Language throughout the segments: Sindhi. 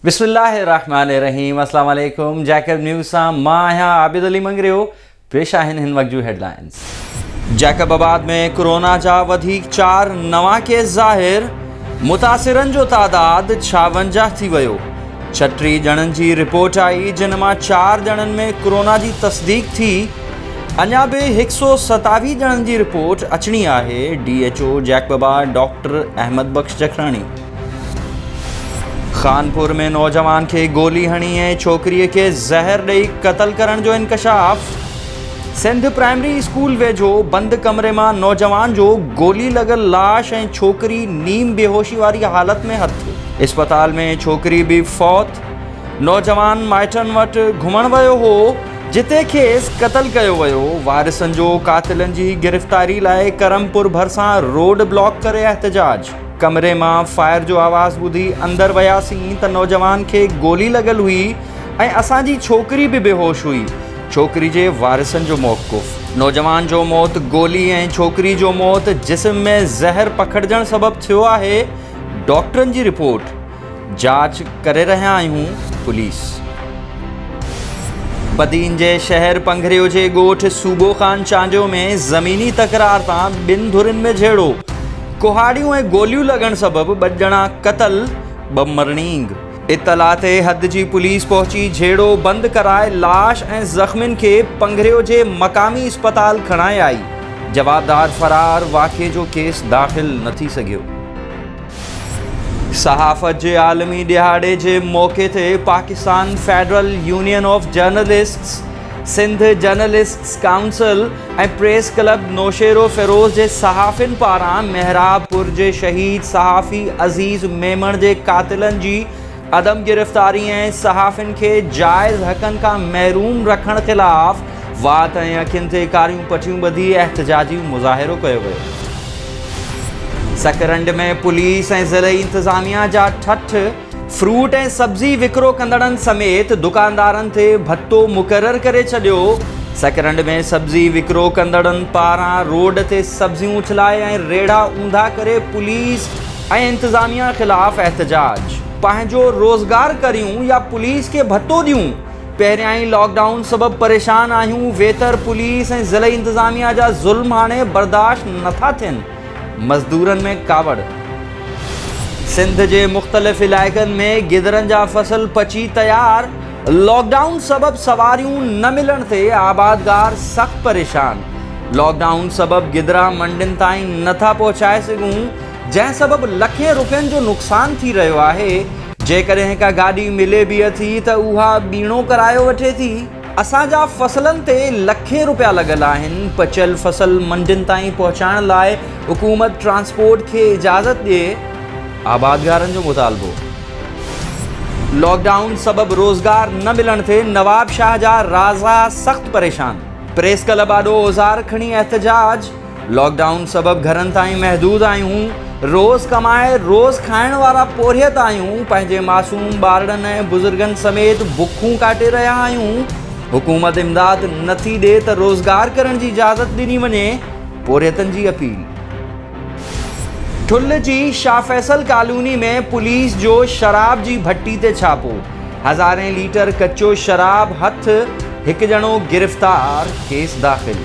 بسم الله الرحمن الرحيم السلام عليڪم جيڪب نيوز سان مان آهيان عابد علي منگريو پيش آهن هن وقت جون هيڊلائنز جيڪب آباد ۾ ڪورونا جا وڌيڪ چار نوان ڪيس ظاهر متاثرن جو تعداد ڇاونجاهه ٿي ويو، ڇهه ٽي ڄڻن جي رپورٽ آئي جن مان چار ڄڻن ۾ ڪورونا جي تصديق ٿي، اڃا به هڪ سؤ ستاويهه ڄڻن جي رپورٽ اچڻي آهي، D H O جيڪبابا doctor Ahmed Bakhsh Jakhrani. Khanpur ۾ نوجوان کي گولي هڻي ۽ ڇوڪريء کي زهر ڏئي قتل ڪرڻ جو انڪشاف. سنڌ پرائمري اسڪول ويجهو بند ڪمري مان نوجوان جو گولي لڳل لاش ۽ ڇوڪري نيم بيهوشي واري حالت ۾ هٿ ٿيو. اسپتال ۾ ڇوڪري به فوت، نوجوان مائٽن وٽ گهمڻ ويو هو، جتي کيس قتل ڪيو ويو، وارثن جو قاتلن جي گرفتاري لاء ڪرمپور ڀرسان روڊ بلاڪ ڪري احتجاج، ڪمري مان فائر جو آواز ٻڌي اندر وياسين ته نوجوان کي گولي لڳل هئي ۽ اسان جي ڇوڪري به بيهوش هئي. ڇوڪري جي وارثن جو موقف، نوجوان جو موت گولي ۽ ڇوڪري جو موت جسم ۾ زهر پکڙجڻ سبب ٿيو آهي، ڊاڪٽرن جي رپورٽ جاچ ڪري رهيا آهيون، پوليس. بدين جي شهر پنگهريو جي ڳوٺ صوبو خان چانڊيو ۾ زميني تڪرار تان ٻن ڌرين ۾ جهيڙو، ڪهاڙيون ۽ گوليون لڳڻ سبب ٻه ڄڻا قتل، ٻه مرڻينگ. اطلاع تي حد جي پوليس پهچي جهيڙو بند ڪرائي لاش ۽ زخمين کي پنگريو جي مقامي اسپتال کڻائي آئي، جوابدار فرار، واقعي جو ڪيس داخل نه ٿي سگهيو. صحافت جي عالمي ڏهاڙي جي موقعي تي Pakistan federal union of journalists, Sindh journalists council ۽ press club Naushahro Feroze جي صحافين پاران محراب پور جي شهيد صحافي عزيز ميمڻ جي قاتلن جي عدم گرفتاري ۽ صحافين کي جائز حقن کان محروم رکڻ خلاف وات ۽ اکين تي ڪاريون پٽيون ٻڌي احتجاجي مظاهرو ڪيو ويو. سڪرنڊ ۾ پوليس ۽ ضلعي انتظاميا جا ٺٺ فروٽ ۽ سبزي وڪرو ڪندڙن سميت دڪاندارن تي ڀتو مقرر ڪري ڇڏيو، سڪرنڊ ۾ سبزي وڪرو ڪندڙن پاران روڊ تي سبزيون اڇلائي ۽ ريڙها اونڌا ڪري پوليس ۽ انتظاميا خلاف احتجاج. پنهنجو روزگار ڪريون يا پوليس کي ڀتو ڏيون، پهريائين لاڪ ڊائون سبب پريشان آهيون، ويتر پوليس ۽ ضلعي انتظاميا جا ظلم هاڻي برداشت نٿا ٿين. مزدورن ۾ ڪاوڙ، سنڌ جي مختلف علائقن ۾ گدرن جا فصل پچي تيار، لاڪ ڊائون سبب سواريون نه ملڻ تي آبادگار سخت پريشان، لاڪ ڊائون سبب گدرا منڊين تائين نٿا پهچائي سگهون، جنهن سبب لکين رپين جو نقصان ٿي رهيو آهي، جيڪڏهن ڪا گاڏي ملي به اٿي ته اها ٻيڻو ڪرايو وٺي ٿي. اسان جا فصلن تي لکين روپيا لڳل آهن، پچيل فصل منڊين تائين پهچائڻ لاء حڪومت ٽرانسپورٽ کي اجازت ڏئي، آبادگارن جو مطالبو. لاڪ ڊائون سبب روزگار نه ملڻ تي نوابشاهه جا رازا سخت پريشان، پريس ڪلب آڏو اوزار کڻي احتجاج. لاڪ ڊائون سبب گهرن تائين محدود آهيون، روز ڪمائي روز کائڻ وارا پورهيت آهيون، پنهنجي معصوم ٻارڙن ۽ بزرگن سميت بکون ڪاٽي رهيا آهيون، حڪومت امداد نٿي ڏي ته روزگار ڪرڻ جي اجازت ڏني وڃي، پورهيتن جي اپيل. ٺل جي شاهه فيصل ڪالوني ۾ پوليس جو شراب جي ڀٽي تي ڇاپو، هزارين ليٽر ڪچو شراب هٿ، هڪ ڄڻو گرفتار، ڪيس داخل.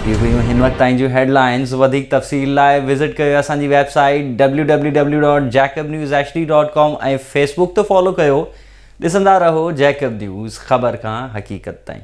هي هيون هن وقت تائين جون هيڊلائنز وڌيڪ تفصيل لاء وزٽ ڪيو اسان جي website W W W dot Jacob news H D dot com ۽ Facebook تي فالو ڪيو ڏسندا رهو جيڪب نيوز خبر کان حقيقت تائين